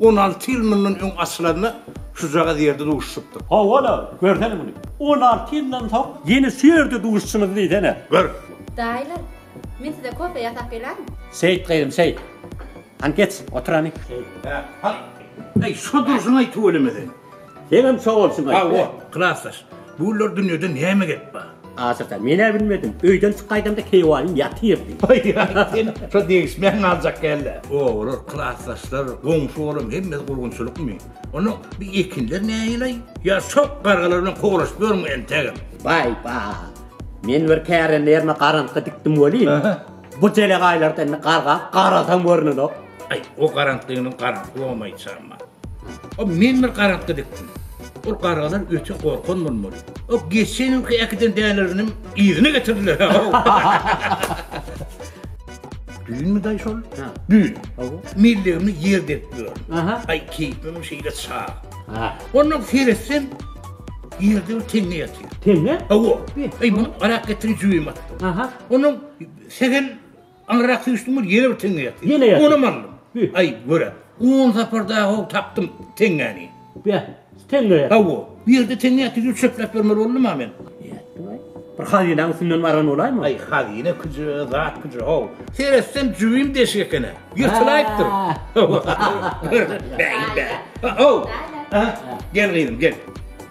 On alty ýyl mundan öň açylanda şujagaz ýerde duşuşypdyk. Hawa-la, görsene muny. On alty ýyldan soň ýene şu ýerde duşuşymyzy diýsene. Gör! Daýylar, men size kofe ýasap gelärin. Seýit gyzym, seýit. Hany geç, otur hany. Seýit, Hä, hany. Äý, şo durşuň-aý tüweleme sen. Seňem sag bol şuňa. Sag bol, klasdaş. Bu günler dünýede näme gep bar? Asyl-da, men-ä bilmedim. Öýden çykaýdamda keýwanyň ýatyrdy. Aý-aý, sen şo degişmän galjak gel-le. Obalar, klasdaşlar, goňşy olam hemmesi gurgunçylykmy? Onda bu ekinler nähili-aý? Ýa şok gargalar bilen kowlaşyp ýörmüň entegem? Baý-ba. Men bir kärendeýerme garantka dikdim welin, Bu jelek aýlarda indi garga garasam görnenok. Aý, o garantlygynyň garanty bolmaýçama. O men bir garantly dikdim. Ol gargalar öte gorkan bolmaly. O geçen ýylky äkiden däleriniň yzyny getirdiler. Düýnmi daý şol? Ha. Düýn. Hawa. Millegimni ýer berip ýör. Aha. Aý, keýpim şeýle çag. Ha. Onda seretsem ýerde bir teňňe ýatyr. Teňňe? Hawa. Aý, muny arak getirip jüýme. Aha. Onuň Segen alrak süýşdüm ol ýene bir teňňe ýatdy. Ýene ýatdy. Onam aldym. Hü. Aý, görä. On saparda ho tapdym teňňäni. Bä, teňňe ýatdy. Hawa, bu ýerde teňňe ýatdy diýip çöpläp bermeli boldum-a men. Ýatdy-aý. Bir hazynaň üstünden bargan bolaýmy? Aý, hazyna küje, zat küje, ho. Seretsem jübim deşik eken-ä. Ýyrtylaýypdyr. Bäý-bä. Ho. Gel gyzym, gel.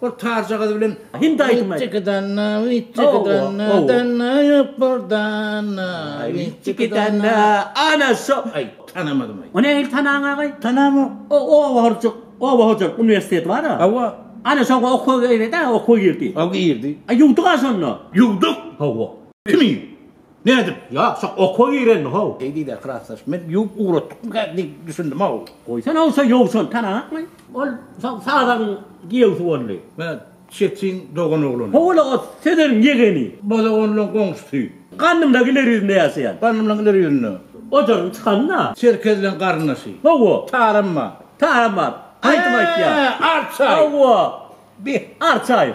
Ol tarjagazy bilen Hindi aýdym aýdýar. Witjikidanna, witjikidanna, danna ýok bir danna. Witjikidanna, ana şo. Aý, tanamadym aý. O nähili tanaň agaý? Tanamok. O oba horjak, oba hojalyk uniwersiteti bar-a. Hawa. Ana şoňa okuwa girdi-ä, okuwa girdi. Hawa girdi. Aý ýuwduk-a şonda. Ýuwduk. Hawa. Kimi? Nädip? Ýa, şa oka girendi-how. Eý, diýdi klasdaş, men ýuwup ugratdykmyka diýip düşündim-how. Goýsana owsa ýowsun, tanaňakmy? Ol sazagyň giýewsi boldy. Hä, Çetin dogan oglany. Ho-ol-a, Sezeniň ýegeni. Bozok on bilen goňşusy. Gandymlaň ileri ýüzünde ýaşaýan. Gandymlaň ileri ýüzünde. Ojagyň çykanyn-a. Çerkez bilen garyndaşy. Hawa. Taramma. Taramma. Aýdym aýtýar. Hä, Arçaýew. Hawa. Beh. Arçaýew.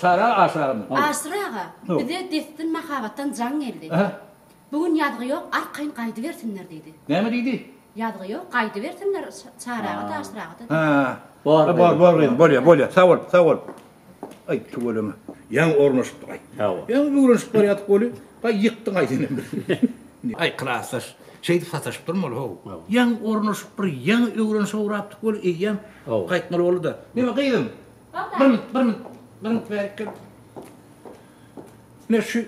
Çara aşyragamyz? Aşyr aga, bize dessin mahabatdan jaň geldi. Bu gün ýazgy ýok, arkaýyn gaýdybersinler diýdi. Näme diýdi? Ýazgy ýok, gaýdybersinler Çary aga-da, Aşyr aga-da diýdi. Hä. Bor, bor, bor gyzym, bolýar, bolýar. Sag bol, sag bol. Aý, tüweleme. Ýaňy ornaşypdyk, aý. Hawa. Ýaňy öwrenişip barýardyk weli, gaý ýykdyň aý senem bizi. Aý, klasdaş, şeýdip sataşypdyrmy ol, how? Ýaňy ornaşyp, bir ýaňy öwrenişe ugrapdyk weli, eýýäm gaýtmaly boldy-da. Neme gyzym? Bir minut, bir minut, bir minut bärik gel. Men şu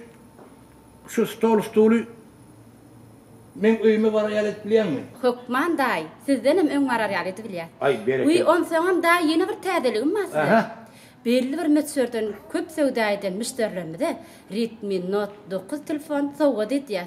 şu stol stuly men öýüme barar ýaly edip bilýäňmi? Hökman daýy, sizdenem öň barar ýaly edibilýär. Aý, berekella. Wiý, onsoňam daýy ýene bir täzeligim bar size. Aha. Belli bir möçberden köp söwda eden müşderilerimize Redmi Note dokuz telefon sowgat edýäs.